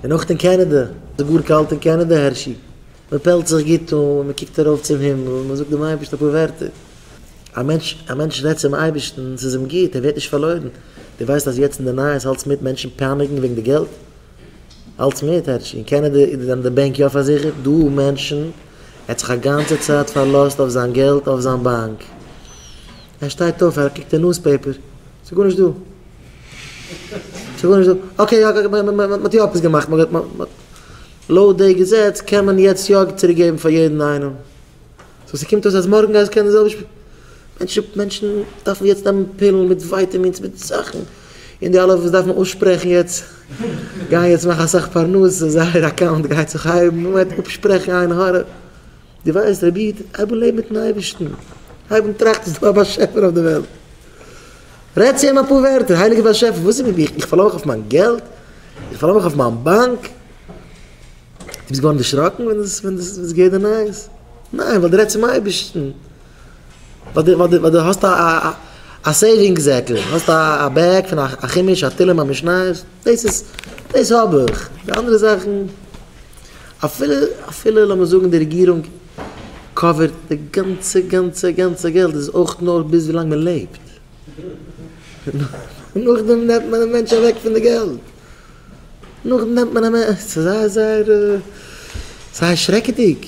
און אויך אין קענעדע, ס'איז גאר קאלט אין קענעדע הערשי, מען פעלט זיך גוט אן, מען קוקט ארויף צום הימל, מען זאגט דעם אייבערשטן אפאר ווערטער, א מענטש, א מענטש רעדט צום אייבערשטן, ס'איז אים גוט, ער ווערט נישט פארלוירן, דו ווייסט אז יעצט אין די נייעס האלטסט מיט מענטשן פייניגן וועגן די געלט? האלטסט מיט, הערשי, אין קענעדע זענען די בענק יא פארזיכערט, דא מענטשן, ער האט זיך א גאנצע צייט פארלאזט אויף זיין געלט אויף זיין באנק, ער שטייט אויף, ער קוקט אין נוזפעיפער, ס'איז גארנישט דא, אקעי אקעי מען האט יא עפעס געמאכט לויט די געזעץ קען מען יעצט יא צוריק געבן פאר יעדן איינעם סאו ס'קומט אויס אז מארגן גייסטו קענען די זעלבע שפיל מענטשן מענטשן דארפן יעצט נעמען פילן מיט ווייטעמינס מיט זאכן און די אלע וואס דארפן אויסשפרעכן יעצט גייען יעצט מאכן אסאך פרנסה זייער אקאונט גייט זיך הייבן מען גייט אפשפרעכן עין הרע. די ווייסט רבי איד, הייב אן לעבן מיטן אייבערשטן, הייב אן טראכטן ס'איז דא א באשעפער אויף די וועלט, רעד צו אים אפאר ווערטער, הייליגער באשעפער וואס איז מיט מיר, איך פארלאר מיך אויף מיין געלט, איך פארלאר מיך אויף מיין באנק, דו ביסט געווארן דערשראקן ווען דאס ווען דאס איז געווען די נייעס, ניין ווייל דו רעדסט צום אייבערשטן, ווייל דו האסט א סעיווינג זעקל, האסט א בעג פון א חומש, א תהלים, א משניות, דאס איז דאס האב איך, די אנדערע זאכן. אפילו אפילו לאמיר זאגן די רעגירונג קאווערט די גאנצע גאנצע גאנצע געלט איז עס אויך נאר ביז ווילאנג מען לעבט, נאכדעם נעמט מען א מענטש אוועק פון די געלט, נאכדעם נעמט מען א מענ, ס'איז זייער זייער זייער שרעקעדיג,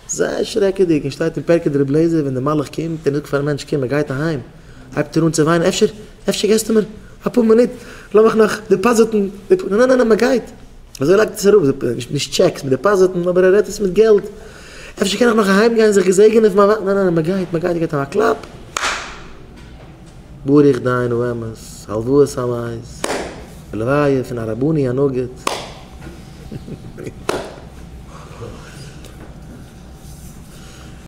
זייער שרעקעדיג, און שטייט אין פרקי דרבי אליעזר ווען די מלאך קומט און ער זאגט פארן מענטש קום ער גייט אהיים הייבט ער אן צו וויינען אפשר אפשר געסטו מיר אפאר מינוט לאמיך נאך דעפאזיטן די, נע נע נע מען גייט. אזוי לייגט עס אראפ, נישט טשעקס, מיט דעפאזיטן, אבער ער רעדט עס מיט געלט. אפשר קען איך נאך אהיים גיין זיך געזעגענען פון מיין ווייב, ניין ניין ניין, מען גייט, מען גייט, ער געבט אים א קלאפ. ברוך דיין ובאמת, הלוואות סאמייס, די לוויה פון הרבני הנגיד.